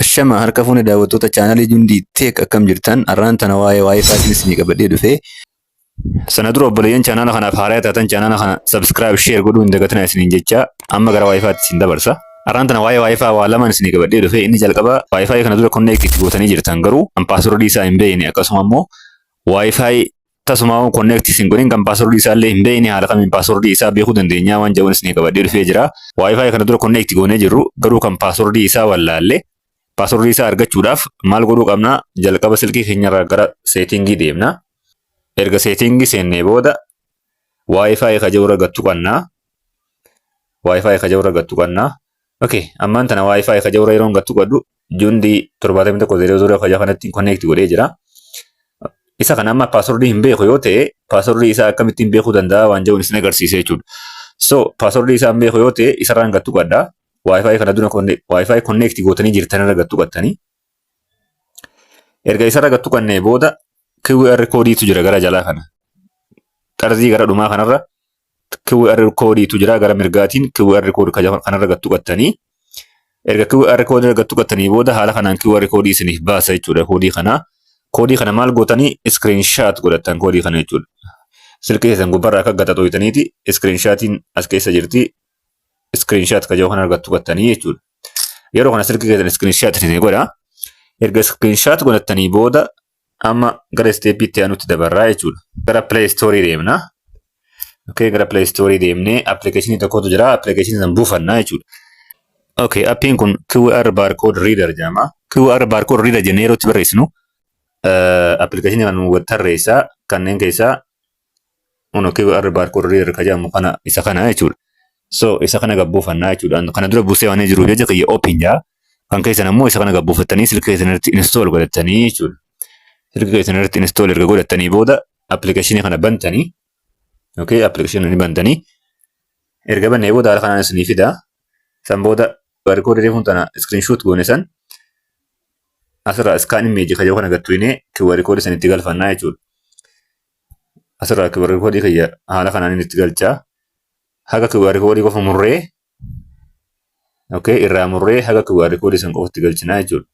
Ashama harka fuune daawwattoota chaanalii Jundii Tech akkam jirtan arraan tana waa'ee waa'ee faashin isinii qabadhee dhufe. Sana dura obboleeyyan chaanala kanaaf haaraa taatan chaanala kana subscribe share godhuu hin dagatinaa isiniin jecha amma gara waa'ee faatti isin dabarsa. Arraan tana waa'ee waa'ee faa waa lamaan isinii qabadhee dhufe inni jalqaba waa'ee faa kana dura connect itti gootanii jirtan garuu an password isaa hin beekne akkasuma immoo waa'ee faa Tasuma on connect isin godhin kan password isaa illee hin beekne haala kamiin password isaa beekuu dandeenya waan jedhuun isin qabadhee dhufee jira. Wi-Fi kana dura connect goonee jirru garuu kan password isaa wallaalle password isaa argachuudhaaf maal godhuu qabna jalqaba silkii keenyarraa gara seetingii deemna. Erga seetingii seennee booda Wi-Fi ka jirurra gattu qabna. Wi-Fi ka jirurra gattu qabna. Okay, ammaan tana Wi-Fi ka jirurra yeroon gattu qabdu jundi 7100 fayyaa kanatti connect godhee jira. Isa kana amma password hin beeku yoo ta'e password isaa akkamittiin beekuu danda'a waan jedhu isin agarsiisa jechuudha. So password isaa hin beeku yoo ta'e isarraan gattu qabda. Wi-Fi kana dura Wi-Fi connect gootanii jirtan irra gattu qabdanii. Erga isarra gattu qabnee booda QR koodiitu jira gara jalaa kana. Xarzii gara dhumaa kanarra QR koodiitu jira gara mirgaatiin QR koodi kanarra gad tuqattanii erga QR koodii irra gad tuqattanii booda haala kanaan QR koodii isiniif baasa jechuudha koodii kanaa. Koodii kana maal gootanii iskiriinshaat godhattan koodii kana jechuudha. Silkii keessan gubbarraa akka gata xooytaniiti iskiriinshaatiin as keessa jirti iskiriinshaat kajoo kana argattu gattanii jechuudha. Yeroo kana silkii keessan iskiriinshaat isinii godha. Erga iskiriinshaat godhattanii booda Amma gara isteeppii itti aanutti dabarraa jechuudha. Gara Play Store deemna. Okay, gara Play Store deemnee appilikeeshinii tokkotu jira. Appilikeeshinii sana buufanna jechuudha. Okay, appiin kun QR barcode reader jedhama. QR barcode reader jennee yeroo itti barreessinu appilikeeshinii kana nu tarreessa. Kanneen keessaa Ono QR barcode reader ka jedhamu kana isa kana jechuudha. So isa kana gabbuufannaa jechuudha. Kana dura buusee waan jiruuf jecha kiyya open jaa. Kan keessan ammoo isa kana gabbuufattanii silkii keessan irratti install godhattanii jechuudha. Silkii keessan irratti install erga godhattanii booda appilikeeshinii kana bantanii okay appilikeeshinii ni bantanii erga bannee booda haala kanaan isinii fida. San booda barcode reefuun tana screenshot goone san asirraa iskaan immeeji kajoo kana gattuinee QR koodii sanitti galfannaa jechuudha. asirraa QR koodii kiyya haala kanaan itti galchaa haga QR koodii qofa murree okay irraa murree haga QR koodii san qofatti galchinaa jechuudha.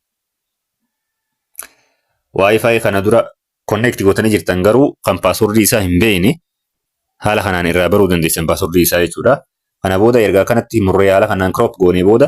Wi-Fi kana dura connect gootanii jirtan garuu kan paaswordii isaa hin beekne haala kanaan irraa baruu dandeessan paaswordii isaa jechuudha. Kana booda erga akkanatti murree haala kanaan crop goonee booda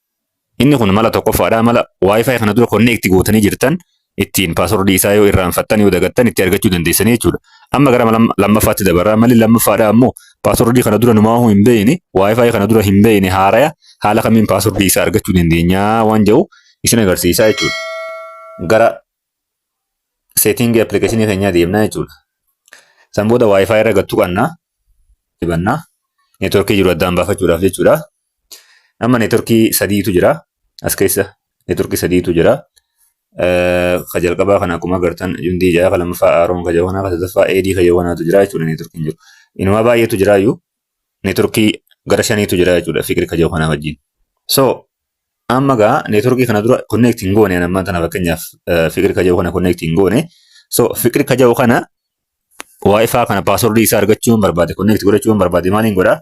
Inni kun mala tokkoffaadha. Mala Wi-Fi kana dura connect gootanii jirtan ittiin paaswordii isaa yoo irraanfattan yoo dagattan itti argachuu dandeessanii jechuudha. Amma gara mala lammaffaatti dabarra. Malli lammaffaadha ammoo paaswordii kana dura numaahuu hin beeyne, Wi-Fi kana dura hin beeyne haaraya haala kamiin paaswordii isaa argachuu dandeenya waan jedhu isin agarsiisaa jechuudha. Gara setting application keenyaa deemnaa jechuudha. San booda Wi-Fi irra gattu qabna. Banna. Networkii jiru addaan baafachuudhaaf jechuudha. Amma neetworkii sadiitu jira. As keessa neetworkii sadiitu jira. Ka jalqabaa kana akkuma agartan jundii ja'a, ka lammaffaa aaroon ka jawanaa, ka sadaffaa eedii ka jawanaatu jira jechuudha neetworkiin jiru. Inumaa baay'eetu jira iyyuu neetworkii gara shaniitu jira jechuudha fikri ka jawanaa wajjin. So amma gaa neetworkii kana dura connect hin goone ammaan tana fakkeenyaaf fikri ka jawu kana connect hin goone. So fikri ka jawu kana waayifaa kana paaswordii isaa argachuun barbaade connect godhachuun barbaade maaliin godhaa?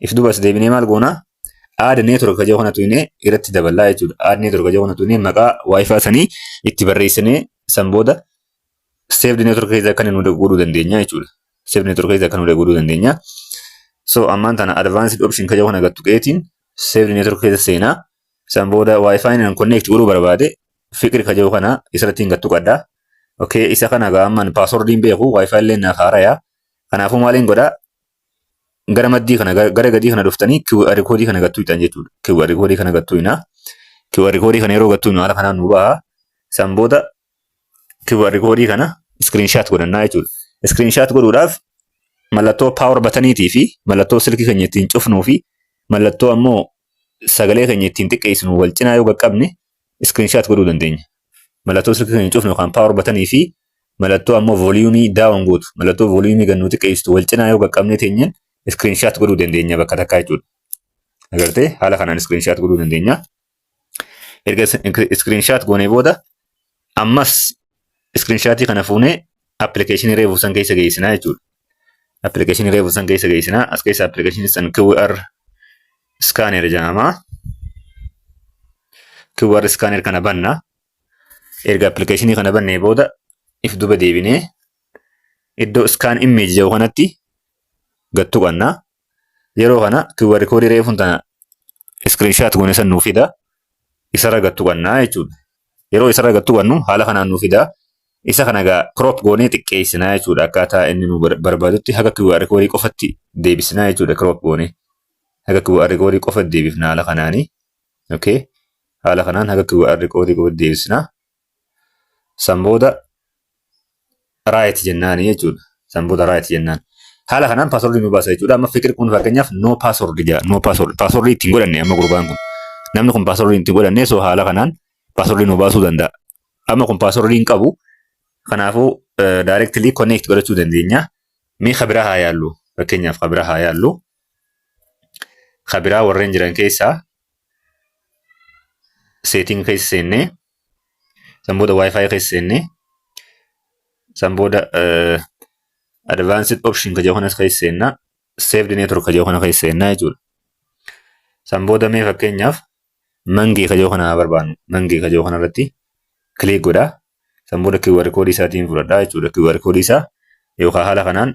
If duba as deebinee maal goona? Aada network kajoo kana tuinee irratti daballaa jechuudha. Aada network kajoo kana tuinee maqaa wifi sanii itti barreessinee san booda saved network keessa akka nu godhuu dandeenya jechuudha. Saved network keessa akka nu godhuu dandeenya. So ammaan tana advanced option kajoo kana gattu qeetiin saved network keessa seenaa. San booda wifi nan connect godhuu barbaade fiqir kajoo kana isarratti hin gattu qaddaa. Okay, isa kana gaa ammaan password hin beeku wifi illee naaf haaraya. Kanaafuu maaliin godhaa? gara maddii kana gara gara gadii kana dhuftanii QR koodii kana gattuu hitan jechuudha. QR koodii kana gattuu hinaa. QR koodii kana yeroo gattuu hinu haala kanaan nu baha. San booda QR koodii kana screenshot godhannaa jechuudha. Screenshot godhuudhaaf mallattoo power bataniitii fi mallattoo silkii keenya ittiin cufnuu fi mallattoo ammoo sagalee keenya ittiin xiqqeessinu wal cinaa yoo qaqqabne screenshot godhuu dandeenya. Mallattoo silkii keenya cufnu yookaan power button fi mallattoo ammoo volume down gootu mallattoo volume gannuu xiqqeessitu wal cinaa yoo qaqqabnee teenyeen screenshot godhuu dandeenya bakka takkaa jechuudha. Agartee haala kanaan screenshot godhuu dandeenya. Erga screenshot goonee booda ammas screenshot kana fuunee application reefu san keessa geessinaa jechuudha. Application reefu san keessa geessinaa as keessa application san QR iskaaner jedhama. QR iskaaner kana banna. Erga appilikeeshinii kana bannee booda if duba deebinee iddoo iskaan immeeji jedhu kanatti gad tuqanna. Yeroo kana QR koodii reefuun tana iskiriinshaat goone san nuu fida. Isarra gad tuqanna jechuudha. Yeroo isarra gad tuqannu haala kanaan nuu fida. Isa kana egaa crop goonee xiqqeessina jechuudha. Akkaataa inni nu barbaadutti haga QR koodii qofatti deebisina jechuudha crop goonee. haga QR koodii qofa deebifna haala kanaani. Okay. Haala kanaan haga QR koodii qofa deebisna. San booda right jennaani jechuudha. San booda right jennaan. Haala kanaan password nu baasa jechuudha. Amma fikir kun fakkeenyaaf no password jedha. No password. Password ittiin godhanne amma gurbaan kun. Namni kun password ittiin godhanne so haala kanaan password nu baasuu danda'a. Amma kun password hin qabu. Kanaafuu directly connect godhachuu dandeenya. Mee kabira haa yaallu. Fakkeenyaaf kabira haa yaallu. ka biraa warreen jiran keessaa seetiin keessa seennee san booda wifi keessa seennee san booda advanced option ka jedhu kanas keessa seennaa saved network ka jedhu kana keessa seennaa jechuudha. San booda mee fakkeenyaaf mangee ka jedhu kana haa barbaannu mangee ka jedhu kanarratti kiliik godhaa san booda QR koodii isaatiin fudhadhaa jechuudha QR koodii isaa yookaan haala kanaan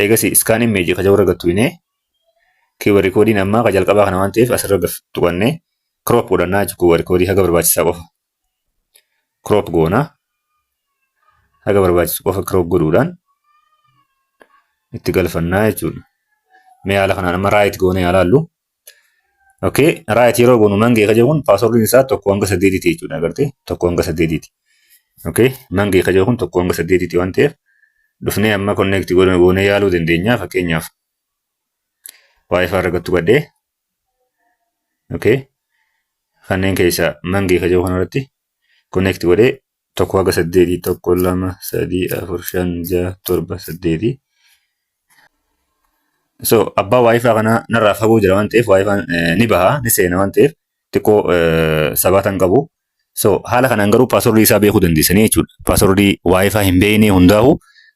eegasi iskaan immeeji kaja warra gattu inee kiiwa rikoodiin ammaa ka jalqabaa kana waan ta'eef asirra gaf tuqannee kiroop godhannaa jechuudha kiiwa rikoodii haga barbaachisaa qofa kiroop goona haga barbaachisu qofa kiroop godhuudhaan itti galfannaa jechuudha mee haala kanaan amma raayit goonee haa laallu Okay, right yeroo goonu mangee kaje kun paaswordiin isaa tokko hanga saddeetiiti jechuudha agartee tokko hanga saddeetiiti. Okay, mangee kaje kun tokko hanga saddeetiiti waan ta'eef dhufnee amma connect goone goone yaaluu dandeenya fakkeenyaaf wifi argattu badhee okay kanneen keessaa mangee kaje kun irratti connect godhee tokko haga saddeetii tokko lama sadii afur shan jaha torba saddeetii so abbaa waayifaa kanaa narraa fagoo jira waan ta'eef waayifaan ni baha ni seena waan ta'eef xiqqoo sabaatan qabu so haala kanaan garuu paaswordii isaa beekuu dandeessanii jechuudha paaswordii waayifaa hin beeknee hundaa'u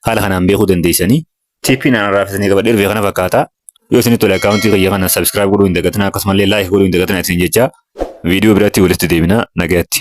haala kanaan beekuu dandeessanii tiippii naannarraa fitanii qabadhe dhufee kana fakkaata yoo isin tole akkaawuntii kiyya kana sabskiraayib godhuu hin dagatinaa akkasumallee laayik godhuu hin dagatinaa isin jecha viidiyoo biraatti walitti deebina nagaatti.